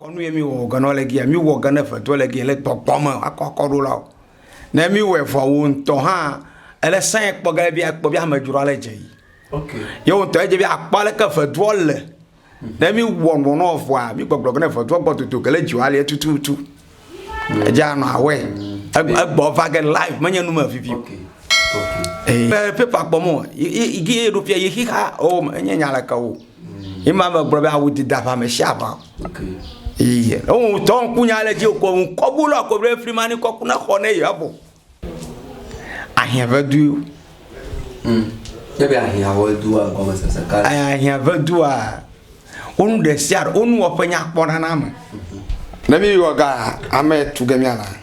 Kɔ nu ye mí wɔ ga nɔ le giya, mí wɔ ga ne ƒe dɔ le giya le gbɔgbɔ me wa kɔ kɔ ɖo la o. Ne mí wɔɛ vɔ wo ŋtɔ hã ele sɛn kpɔ ge be akpɔ be ame dzro ale dze yi. Ye wo ŋtɔ edze be akpɔ ale ke ƒe dɔ le. Ne mí wɔ nɔ nɔ vɔa mí gbɔgblɔ ge ne ƒe dɔ gbɔ dodo ge le dzi wa le tututu. Edze anɔ awɛ. Egbɔ va ge live me nye nu me vivi. Eyi paper kpɔ mɔ yi yi yi ɖo fia yi xixa o enye nya le ke wo. Ima me gblɔ be awu dida ʋa me sia ʋa. Iye. Ewu tɔ ŋku nya le dzi o ko ŋu kɔbu lɔ ko be fri ma ni kɔku na xɔ ne ya bo. Ahia ve du. Mm. Ke be ahia ve du a gɔme sese ka. Ahia ve du a. Onu de sia onu wɔ pe nya kpɔ na na me. Ne mi wɔ ga ame tu ge mi ana.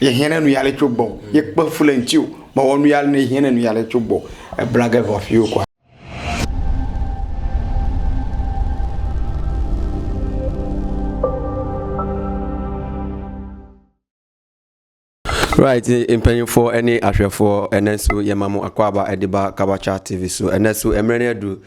ye hiã ɖe nu ya le tso gbɔ ye kpe fu le ŋuti o mewɔ nu ya ne hiã ɖe nu ya le tso gbɔ ebla ge vɔ fi wo kɔ. Right, mpanyinfoɔ ne ahwɛfoɔ ɛnɛ so yɛma mo akɔ aba ɛde ba Kabacha TV so ɛnɛ so mmerɛ ne adu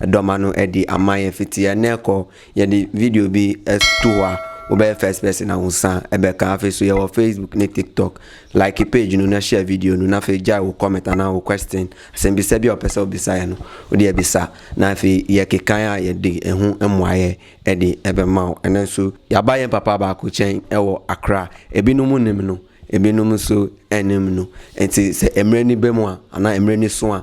Eɖɔ manu eɖi ama ye fiti ene kɔ ye ɖi video bi estuwa wo be first person awu sa ebe kan afi su ye wɔ Facebook ne TikTok like page nu ne share video nu na fi jai wo comment ana wo question asen bi se bi o pese obi sa ye nu wo di ebi sa na fi ye ke kan ya ye di ehu emwa ye eɖi ebe mau ene su ya ba ye papa ba ku chen ewo akra ebi nu mu ne mnu ebi nu mu su ene mnu enti se emre ni be mua ana emre ni sua.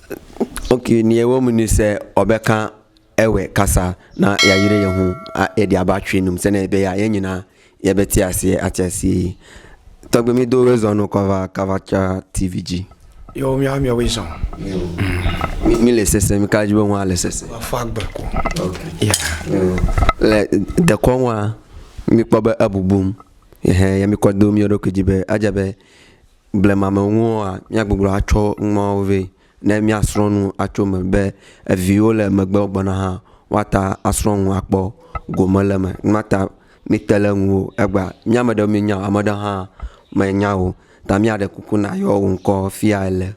Oke nie wo munu se ɔbe kan ewe kasa na ya yire ye hun a edi aba twi num sene be ya yenyi na ye be ti asie ati asie tɔgbe mi do we zɔn no kɔva kava tsa tv ji yo mi ami we zɔn mi, mi le sese mi ka ji be wa le sese afɔ agbe ko okay. yeah. le dekɔ wa mi kpɔ be ebubum ehe ya mi kɔ do mi ɖo ke ji be adja be Blema me ŋua, míagbugbɔ atsɔ numawo vɛ ne míasrɔ̃ nu atso eme be viwo le megbe gbɔna hã woate ŋu asrɔ̃ nu akpɔ gome le eme. Nu ma ta míte ɖe eŋu o. Egbea mí ame aɖewo míenya o, ame aɖewo hã menya o ta míaɖe kuku nàyɔ wò ŋkɔ fia ele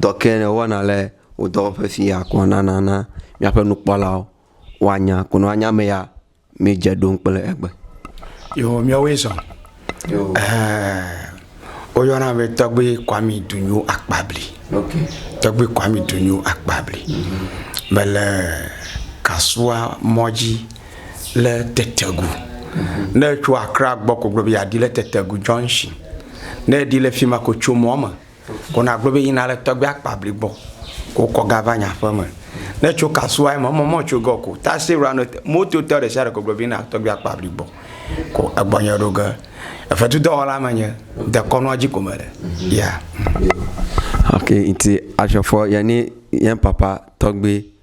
dɔ ke ne woana le wò dɔwɔƒe fia kɔ nana na míaƒe nukpɔlawo woanya ko ne woanya ame ya. Míedze ɖom kple egbe. Yo, míawoe zɔ. Woyɔna be tɔgbe Kwami Dunyo Akpabli. Tɔgbe Kwami Dunyo Akpabli. Mele Kasua mɔ dzi le Tetegu. Ne etso Accra gbɔ ko gblɔ be yeadi le Tetegu junction. Ne eɖi le fi ma ko tso mɔ me. Kona gblɔ be yina le tɔgbia akpa bli gbɔ. Ko kɔ ga va nye aƒe me. Ne tso kasua eme, emɔ mɔ tso gɔ ko. Taxi rua no te. Moto tɔ ɖe sia ɖe ko gblɔ be yina tɔgbia akpa bli gbɔ. Ko egbɔ nye ɖo ge. Efetu dɔwɔla me nye. Dekɔnua dzi ko me le. Yeah. Okay, nti ashe fɔ yɛ ni yɛn papa tɔgbe.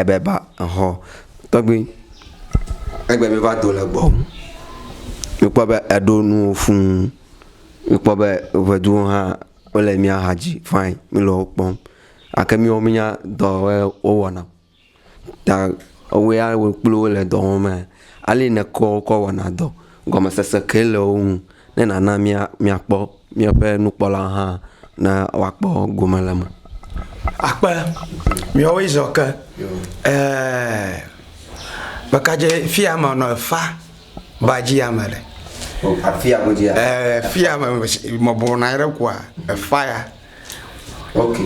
Ebe ba exɔ tɔgbi egbe mi va do le gbɔ ŋu. Mi kpɔ be eɖo nuwo fuu. Mi kpɔ be ŋɛduwo hã wo le mia xa dzi fine mi le wo kpɔm. Gake miwo mi nya dɔ ye wo wɔna o. Ta ewɔe ya wo kpli wo le dɔ wɔm mea, ale yi ne kɔ wo kɔ wɔna dɔ. Gɔmesese kae le wo ŋu ne nàna míakpɔ míaƒe nukpɔla hã ne woakpɔ gome le eme? Akpe miɔwoe zɔ ke eh Bekadje fia me nɔ efa ba dji ame le. Afia godjia. Eh fia me mɔbɔna yɛrɛ kua efa ya.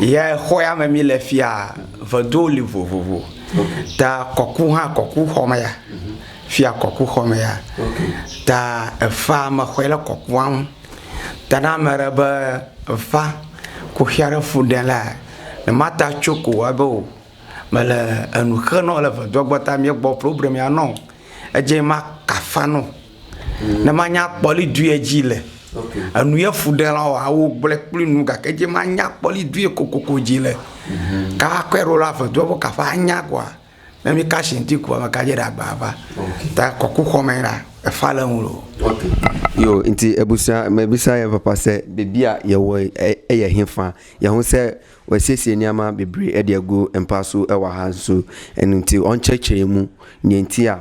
Yɛ xɔya me mí le fiaa, veduwo li vovovo. Ta kɔku hã kɔkuxɔ me ya. Fiya kɔkuxɔ me ya. Ta efa me xɔɛ le kɔkua ŋu. Ta ne ame ɖe be efa kuxia ɖe fu ɖe lea, ne mata tso ko wa be o. Mele enu xe nɔ le vedua gbɔ ta mía gbɔ problème ya nɔ. Edje ma kafa nɔ. ne manya kpɔli dui edzi le enu ye fu ɖe la wa wo gblɔe kpli nu gake edzi manya kpɔli dui kokoko dzi le ka kɔe ɖo la ave do ƒe kaƒe anya koa ne mi ka shinti koa me ka dze ɖe agba va ta kɔku xɔmɛ la efa le ŋu lo yo nti ebusa me bisa ye papa se bebia ye wo eye hin fa ye ho se we siesie ni ama bebri edia gu empa su ewa ha su enu nti on cheche mu nyentia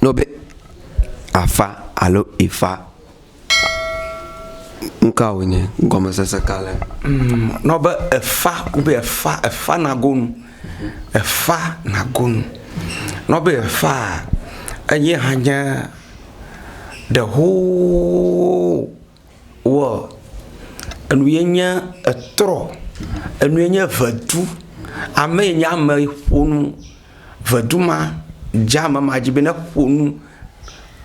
Ne wobe afa alo ifa, nu ka wònye? Gɔmesese ka le eme? Ne wobe efa, wobe efa, efa nago nu, efa nago nu. Ne wobe efaa, eye hã nye ɖehooo. wɔ enu ye nye etrɔ, enu ye nye eŋɛdu, ame ye nye ame ƒo nu. Ŋɛdu ma dze ame ma dzi be ne ƒo nu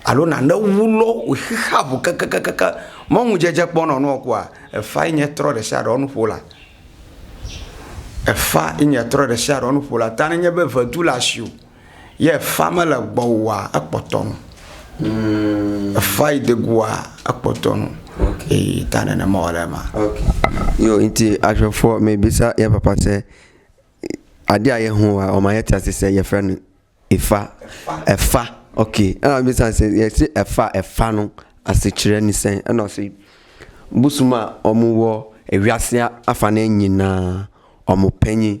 alo nane wu lɔ wò xixea ŋu kakakaka. Me ŋu dzedze kpɔ nɔ nua kɔa, efa ye nye trɔ ɖe sia ɖe nu ƒola. Efa ye nye trɔ ɖe sia ɖe nu ƒola. Ta ne nye be ŋɛdu le asiwò. Yɛ efaa mele gbɔwòa, ekpɔtɔ nu. Hum. Efaa yi degoa, ekpɔtɔ nu. Ok. Eyi ta nenema wòle ema. Ok. Yo nti ahwɛfoɔ mebisa yɛ papa sɛ, aɖe a yɛ ho wa ɔ ma yɛ tia se sɛ yɛ frɛ nu ifa. Efa. Efa. Ok. Ena mebisa sɛ yɛ se efa efa nu ase tsrɛ ni sɛ enɔ se busu ma ɔ mu wɔ ewiasea afa nɛ nyinaa ɔ mu pɛnyi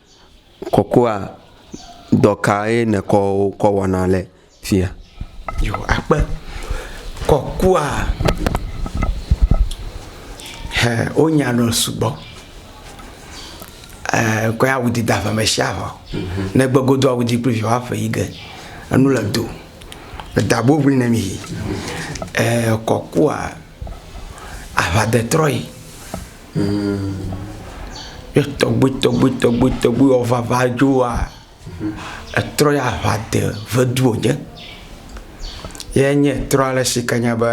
Kɔkɔa, dɔ kae nèkɔ wo kɔ wɔna le fia? Yo, akpe. Kɔkɔa, ɛ, wonya nu sugbɔ. Ɛ, kɔe awu di da ƒe me sia ƒe. Ne egbe godo awu di kple viwo aƒe yi ge. Enu le do. Eda bo ŋli ne mi. Ɛ, kɔkɔa, aʋa de trɔe. ne tɔgbuitɔgbuitɔgbuiwo vava dzo wa, etrɔ ya ŋa de vedu wòdze. Ye nye trɔa le si ke nye be,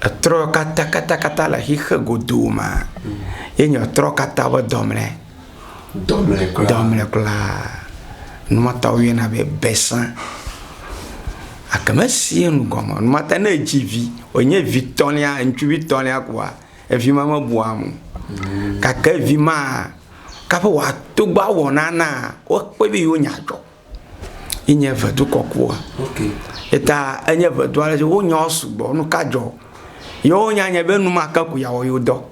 etrɔ katã katã katã le xixe godoo maa, ye nye trɔ katã be dɔmlɛ. dɔmlekplaa. Numa ta wo yɔna be besa. Gake mesia nu gɔme o. Numa ta ne edzi vi, wònye vi tɔ̃lia, ŋutsuvi tɔ̃lia kpoa, evi ma mebua ame o. Gake vi maa, kaƒe wòato gbɔ awɔ nanaa, wokpɔe be yewo nya dzɔ. Ye nye vedu kɔkɔa. Eya ta enye vedu ale si, wonyawo sugbɔ. Nu ka dzɔ? Yewo nya nye be enumake ko yeawɔ yewo dɔ.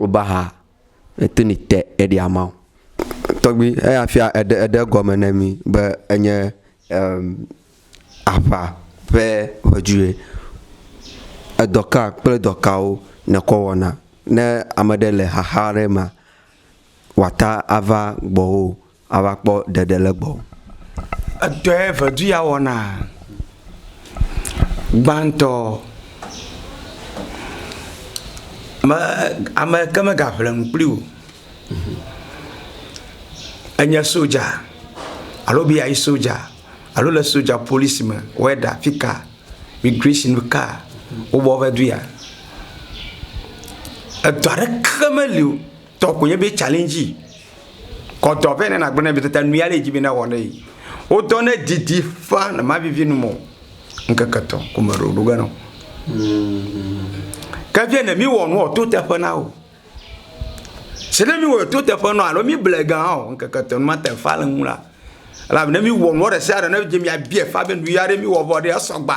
Woba ha eto ni te eɖi ama o. Tɔgbi eya fia eɖe eɖe gɔme ne mi be enye em aʋa ƒe ʋedzue. Edɔ ka kple dɔ kawo nekɔ wɔna ne ame ɖe le xaxa ɖe mea wòata ava gbɔwoo. Ava kpɔ ɖeɖe le gbɔwò. Edɔe vedu ya wɔna. Gbãtɔ, me, ame ke mega ʋle nu kpli wò. Enye sodza alo be yeayi sodza alo le sodza polisi me, wɔe ɖa fika, migration me ka wobɔ va du ya. Edɔ aɖeke meli o. Tɔ ko nye be challenge yi. Kɔdɔ vɛ ne nagblɔ ne mitata nu ya le dzi be na wɔ ne yi. Wo dɔ ne didi fa ne ma vivi nu mo. Nkeke tɔ ko me ro do ga no. Ke vie ne mi wɔ nu to te fe na wo. Se ne mi wɔ to te fe no alo mi ble ga o nkeke tɔ ma te fa le ŋu la. La ne mi wɔ nu re se are ne dzi mi abie fa be nu ya re mi wɔ vɔ de asɔgba.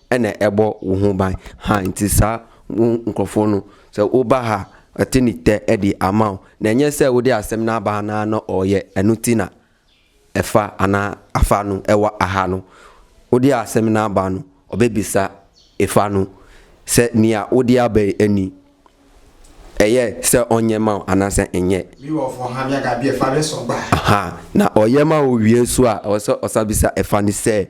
Ene ebɔ wuhun baŋ ha ŋti sa ŋu ŋklɔfɔ nu se wo ba ha eti ni te eɖi ama o. Ne nye se wo ɖe asem na ba na nɔ ɔ ye enu ti na efa ana afa nu ewa aha nu. Wo ɖe asem na ba nu ɔ be bi sa efa nu se nia wo ɖe a be eni eye se ɔ nye ma o ana se enye. Mi wɔ vɔ ha mia ga bi efa ɖe sɔ gba. Aha na ɔ ye ma wo wie sua ɔ se ɔ sa bi sa efa ni se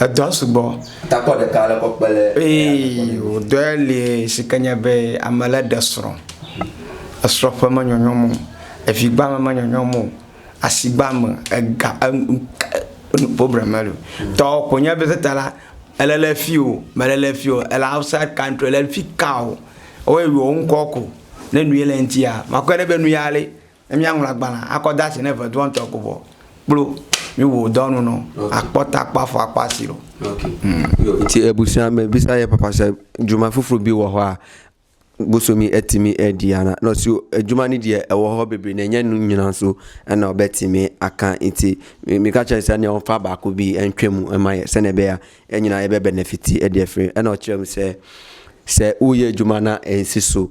Edɔ sugbɔ. Takpɔ ɖeka ale kɔ kpe le. Ee, wòdɔe li si ke nye be ame lé ɖe srɔ̃. Esrɔ̃ ƒe menyɔnyɔm o, evigba me menyɔnyɔm o, asigba me, ega, enu, enu problem mele o. Tɔ ko nye be ta la, ele le fi o, mele le fi o, ele outside country, ele fika o, woyɔ ŋkɔ ko. Ne nu ye le eŋutia, makɔe ɖe be nu ya le. Ne míaŋlɔ agbalẽ akɔ de asi ne vedoɔ ŋutɔ ko vɔ kplo míwɔ dɔ nu nɔ akpɔ ta akpɔ afɔ akpɔ asi lɔ. Ti ebusua me bisa ye papa sɛ juma fufuru bi wɔ hɔa busu mi eti mi edi ana nɔ si ejuma ni di ewɔ hɔ bebe ne nye nu nyina so enɔ be ti mi akan iti mi mi ka cɛ sɛ ne ɔfa ba ku bi enkwe mu ema ye sɛ ne be ya enyina ye be benefiti edi efri enɔ cɛ mu sɛ sɛ u ye juma na ensi so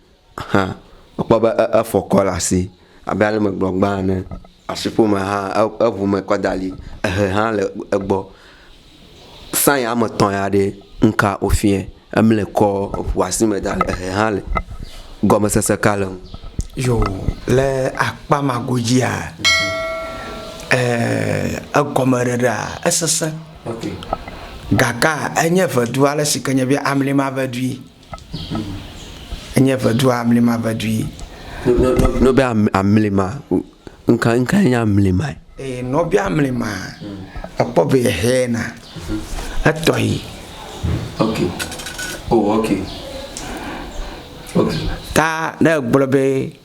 hã, ekpɔ be efɔ kɔ le asi abe ale megblɔ gbã ene. Asiƒome hã eŋu me kɔ da ɖi. Ehɛ hã le egbɔ. Sign ame etɔ̃ ya ɖe ŋka wofiɛ. Emle kɔ eŋua si me da le ehɛ hã le. Gɔmesese ka le ŋu. Yo le akpa ma godzia e egɔme ɖeɖea esese. Gakaa enye ŋedu ale si ke nye be amli ma ŋedui. Enye ʋedua, amlima ʋedui. Nɔ, nɔ, be am, amlima. Ŋka, ŋka enye amlima? Ee, nɔ be amlima. Ekpɔ be hɛna. Etɔ yi. Ok. Oh, ok. Ok. Ta ne egblɔ be.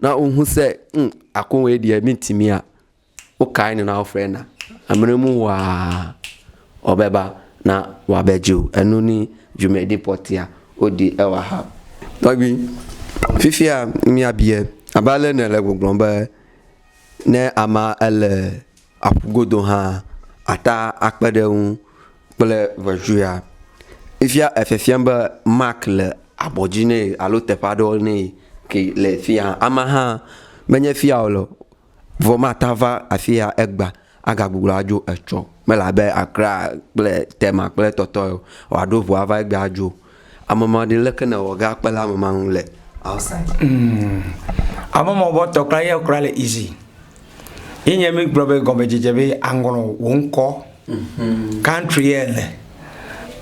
Na wo ŋu se ŋ ako ŋue ɖie mi ti mia. Wo kai ne na wo fre na. Amre mu wa obeba na wa be ju enu ni ju me di potia o di e wa ha. Tɔgbi, fifia mia bie abe ale ne le gbɔgblɔ be ne ama ele. Aƒu godo hã, ata akpe ɖe eŋu kple ŋetsu ya. Efia efe fiam be mark le abɔ dzi nɛ alo teƒe aɖewo nɛ ke le fi ya. Amea hã menye fi ya wòle o vɔ mate ŋu ava afi ya egbea, agagbugbɔ adzo etsɔ o. Mele abe Accra kple Tema kple etɔtɔ ye o. Wòaɖo ŋu ava egbea adzo. Ame ma ɖi leke ne wɔ ga kpe le ame ma ŋu le outside. Mm. Ame ma bɔ tɔ kura yɛ kura le easy. Yi nye mi gblɔ be gɔme dzedze be anglɔ wo ŋkɔ. Mm-hmm. Country yɛ le.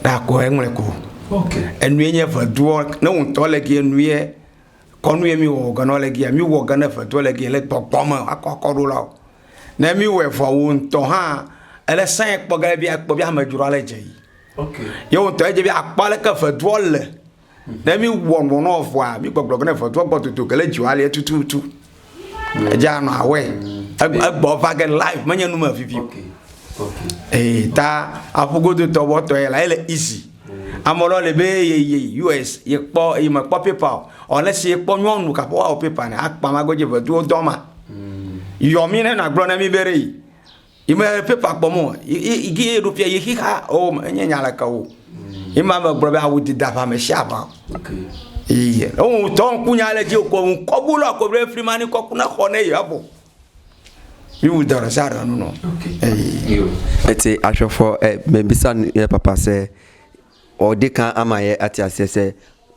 Da ko eŋlɛ ko. Okay. Enu yɛ nye veduɔ ne wo ŋutɔ le gi enu yɛ kɔnu yɛ mi wɔ wɔ gana le gi mi wɔ gana veduɔ le gi le gbɔgbɔ me akɔ akɔ ɖo la o. Ne mi wɔ vɔ wo ŋutɔ hã ele sɛn kpɔ gana bi akpɔ bi amedzro ale dze yi. Yewo ŋutɔ edze be akpɔ aleke evedua le. Ne mi wɔ nɔ nɔ evɔa, mi gbɔgblɔ bene evedua gbɔ dodo gele dzi wa le tututu. Edze anɔ awɔe. Egbɔ va ge live menye nume vivi. Ee, ta aƒu godo tɔ wɔ tɔ ye la ele easy. Ame lɔ le be ye ye US ye kpɔ ye me kpɔ paper o. Ɔ ne si ye kpɔ nyɔnu ka po wa o paper ne akpa ma go je vedua dɔ ma. Yɔ mi ne na gblɔ ne mi be re. Yi me paper kpɔm o. Yi gi ye ɖo fia ye xixa o me nye nya leke o. Yi ma me gblɔ be awu dida ʋa me sia ʋa. Yi. Ewu tɔ ŋku nya le ji o ko ŋu kɔ bu lɔ ko be fri mani kɔ kuna xɔ ne ye abo. Yi wu dɔrɔ sa dɔ nu no. Yi. Ete ahwefo e me bisa ye papa se o de kan ama ye ati ase se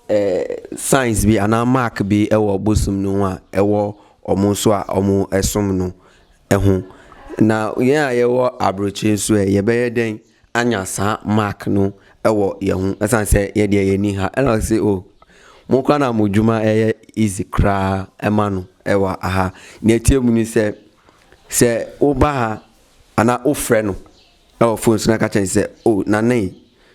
eh science bi ana mark bi e wo bo sum nu wa e wo omo so a omo esum nu. eho. Na yea yewɔ abroche sue yebe yeden anya sa mark no ewɔ yehu esan se yedie ye ni ha ela se o mo kura na mo juma eye easy kura emanu ewa aha ne tie muni se se oba ha ana ofre no ewɔ phone suna ka chen se o na nei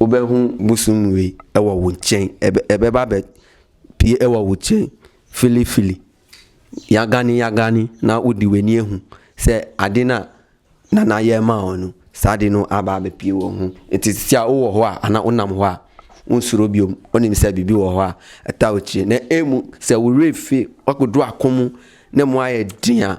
Wobe ŋu ŋusũ nui ewɔ wò tsɛ ebe ebe ba be pi ewɔ wò tsɛ filifili. Yagani yagani na woɖi wɛ nie ŋu se aɖi na nana ye ma wɔ nu sa aɖi no aba be pi wɔ ŋu. Eti sia wowɔ hɔa ana wo nam hɔa ŋusũ ɖo biom wo nim se bibi wɔ hɔa eta wò tsɛ ne emu se wure fe woaku ɖo akɔmu ne mɔa ye ɖia.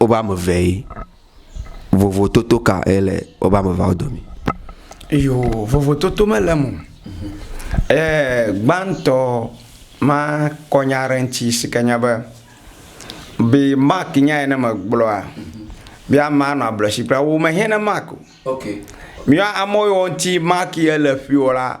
wobe ame eve ye. Vovototo ka ye le wobe ame eveawo dome? Iyo, vovototo mele eme o. Eee gbãtɔ makɔ nya aɖe ŋuti si ke nye be, be Mark nya yi ne megblɔa, be amea nɔ ablɔsi kpla. Wò mehiã na Mark o. Míawo amewo yiwo ŋuti Mark ye le ƒio la,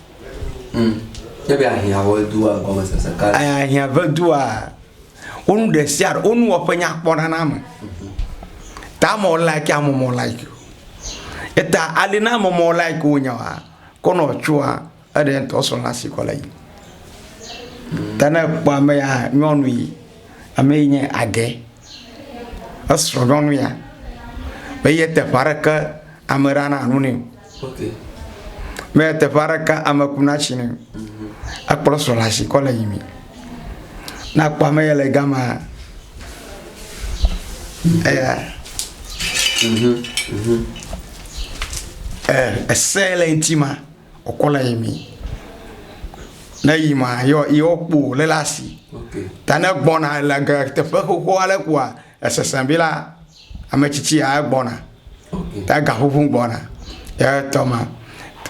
Ahiã ƒe dua, wo nu ɖe sia ɖe, wo nuwɔƒe nya kpɔ na ame. Ta amɔ like ya amɔ mɔ like o. Eta ali na amɔ mɔ like wò nya wa, ke nɔ tsua, eɖe ŋtɔ sɔ na si kɔ le yi. Ta ne kpɔ ame ya nyɔnu yi, ame yi nye agɛ, esrɔ nyɔnu ya, be yete ƒe aɖeke ame ɖa na nu nɛ. Mɛ teƒe aɖeke ame ku na tsi ne akplɔ srɔ̃ le asi kɔ le yi mi. Ne akpɔ ame yɛ le gama eya ɛ ese le ŋuti ma wòkɔ le yi mi. Ne yi ma yɔ yɔ kpo le le asi. Ta ne gbɔna le ge teƒe xoxo aɖe kpoa. Esesẽ be la, ame tsitsi ya egbɔna, ega ʋuʋum gbɔna ɖe etɔ ma.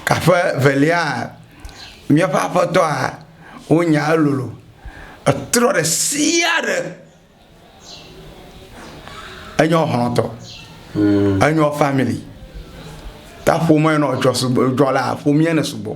Kaƒe velia, míaƒe Aƒetɔa wo nya elolo, etrɔ ɖe sia ɖe. Enye wo xlɔ tɔ, enye wo family. Ta ƒome nɔ dzɔ sugbɔ, dzɔ le ƒomea me sugbɔ.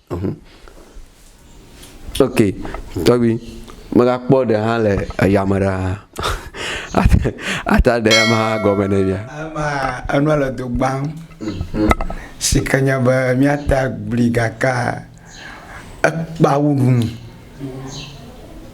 Ok, tɔgbi, mega kpɔ ɖe hã le eya me ɖaa. Ata ɖe ema gɔme ne mia. Ema enua le do gbã. Si ke nye be mia ta gblui gakea ekpa wu nu.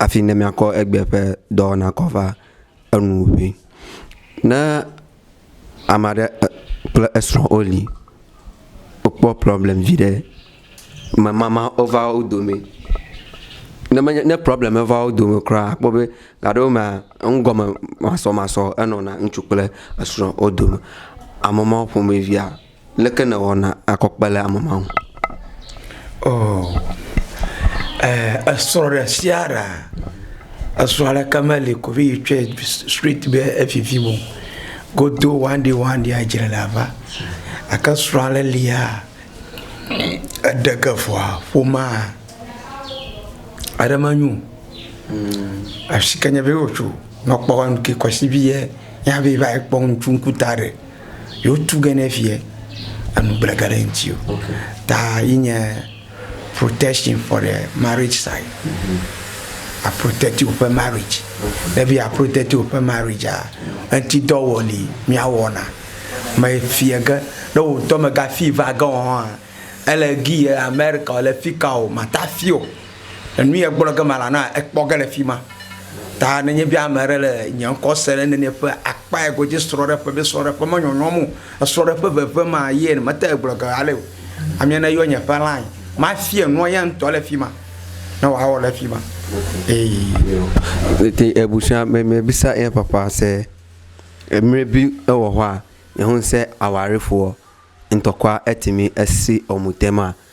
hafi ne míakɔ egbea ƒe dɔwɔna kɔ va enu ŋui. Ne ame aɖe kple esrɔ̃ woli, wokpɔ problɛmi viɖe, mamama wova wo dome, ne menye, ne problɛmi meva wo dome kura la, akpɔ be gaɖewomea, enugɔme masɔmasɔ enɔna ŋutsu kple esrɔ̃ wo dome. Ame mawo ƒomevia. Leke nèwɔna akɔ kpe le ame ma ŋu? Oo, ɛɛ, esrɔ̃ ɖesiaɖe, esrɔ̃ aɖeke meli ko be yetsɔe straight be evivim o. Godo wanɖiwanɖia edzre la va. Gake srɔ̃ aɖe lia, eɖe ge vɔa, ƒomea, eɖe menyo o. Eshi ke nye be wotso, nɔ kpɔ ŋkeke kwasivi ye, ye hã be va yi kpɔ ŋtsu ŋkuta ɖe. yewo tu ge ne fiɛ enu gble ge ɖe ŋuti o ta yi nye protection for the marriage side a protect woƒe marriage ne be ya protect woƒe marriage a enti dɔ wɔ li mia wɔna me fiɛ ge ne wo ŋutɔ me ga fi va ge wɔn hã ele gi ye amerika le fi ka o mata fi o Enu yɛ gblɔ ge mala na ekpɔ ge le fima. Ta ne nye be ame ɖe le nye ŋkɔ se ɖe nɛnɛ ƒe akpa yɛ godzi srɔɖeƒe be srɔɖeƒe me nyɔnyɔm o. Esrɔɖeƒe veve ma yɛ ne mete gblɔ ge ale o. Amia ne yɔ nye ƒe line ma fia nua ya ŋtɔ le fima ne wa wɔ le fima eye. Te ebusia me me bisa eye papa se emre bi ewɔ hɔa. Ehun se awari fuɔ ŋtɔkwa etimi esi ɔmutema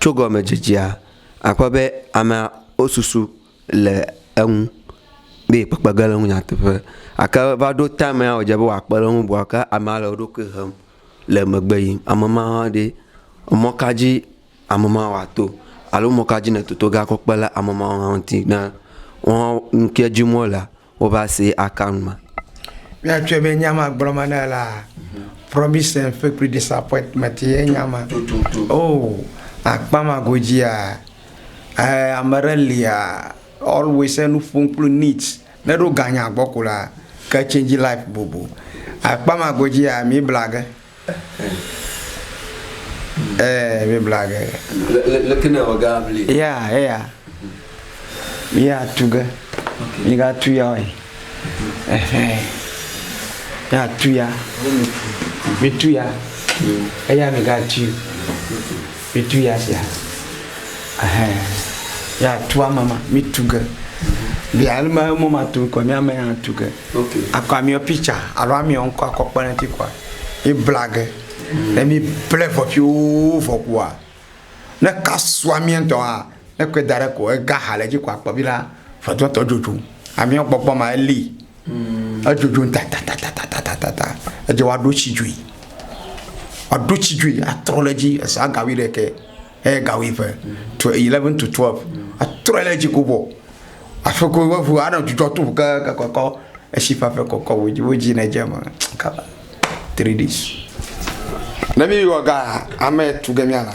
Tso gɔmedzedzea, akpɔ be amea wosusu le eŋu be yekpekpe ge ɖe eŋu nyateƒe gake va ɖo time ya wòdze be yeakpe ɖe eŋu bua, ke amea le eɖokui hem le megbe yim. Ame ma hã ɖe, mɔ ka dzi ame ma woato alo mɔ ka dzi nètoto ge akɔ kpe ɖe ame ma ŋuti ne woawo, nu ke dim wolea, wova se account ma. Míatsɔe be nya ma gblɔ ma na la, promise and fake kple disappointment ye nya ma. Oh, akpa ma godzia, eh, ame ɖe lia, always enu ƒom kple needs, ne ɖo ganya gbɔ ko la, ke change life bobo. Akpa ma godzia, mi bla ge. Ɛɛ, Biblia ge. Leke ne ewɔ ge abli? Ya, eya. Ya tu ge. Migatu ya ɔe. Ɛhɛ. Ya tu ya. Mitu ya. Eya migatui. Mi tu ya sia. Ɛhɛ. Ya tu ame ma. Mi tu ge. Bia ele me mo ma tu kɔ mi ame ya tu ge. Ok. Akɔ amiɔ picture alo amiɔ ŋkɔ akɔ kpe ne ti kɔa. Mi bla ge. Ne mi ble vɔ pioo vɔ kɔa, ne ka su amia ŋtɔa, ne kɔe da ɖe kɔ ega ha le dzi kɔ akpɔ bi la, ʋetɔtɔ dzodzo. Amiɔ gbɔgbɔ ma eli. Edzodzoŋ tatatatatata. Edze woaɖo tsi dzoe. Woaɖo tsi dzoe atrɔ ɖe edzi ese aga wuiɖekɛ eye ga wuieve, twe eleven to twelve. Atrɔe ɖe edzi kobɔ. Aƒe ko woaŋu anɔ dzudzɔ tom kekekekeɔ etsi ƒaƒe kɔkɔ wo dzi wo dzi ne dze eme kaba. Three days. Ne mí wɔ ga ame etɔ̃ gema la.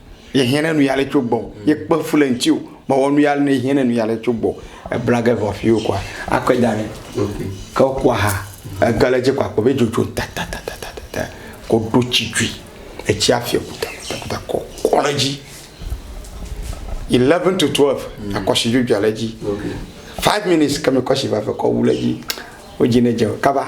ye hiã ne nu ya le tso gbɔ ye kpe fu le ŋtsi o me wɔ nu ya ne hiã ne nu ya le tso gbɔ ebla ge vɔ fi wo kɔa akɔe da ne ke wo kɔa ha ege le dzi kɔa kpɔ be dzodzo tatatatatata ko ɖo tsi dzui etsi afi kutakuta kɔ kɔ le dzi eleven to twelve mm. akɔsi dzodzo le dzi five minutes kemi kɔsi va fɛ kɔ wu le dzi wo dzi ne dze kaba.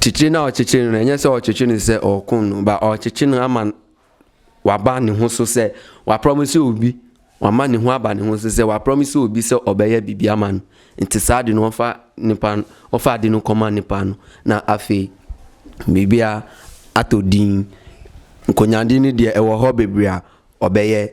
Tsitsi na ɔ tsitsi nu ne nye se ɔ tsitsi nu se ɔ kun nu ba ɔ tsitsi nu ama wa ba ni hun so se wa promise u bi wa ma ni hun aba ni hun so se wa promise u bi se ɔ be ye bibi ama nu nti sa di nu ɔ fa ni pa nu ɔ fa di nu kɔ ma ni pa nu na afi bibi a ato di nko nya di ni di e wɔ hɔ bibia ɔ be ye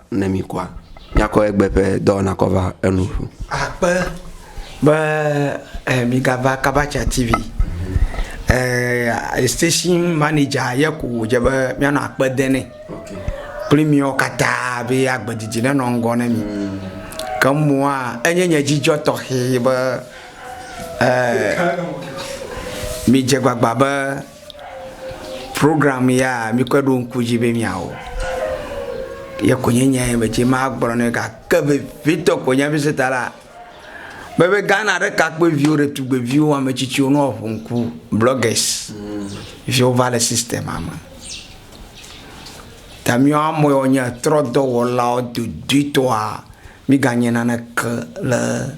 Ne mi kua, miakɔ egbe ƒe dɔwɔna kɔ va enu ƒu. Akpe be eh, migava Kabacha TV. Eh, station manager ye ko wòdze be míanɔ akpe de nɛ. Kple miwo katã be agbedidi nenɔ ŋgɔ ne mi. Ke mɔa, enye nye dzidzɔ tɔxɛ be eh, midze gbagba be Programme ya mikɔe ɖo ŋku dzi be miawɔ. Ye ko nye nya ye medzi magblɔ ne gake vevitɔ ko nye mise ta la be be Ghana ɖekakpuiviwo ɖetugbeviwo ame tsitsiwo ne woaƒo ŋku bloggers fi wova le sistema me. Ta miwo amewo nye trɔdɔwɔlawo dodoetɔa miganye naneke le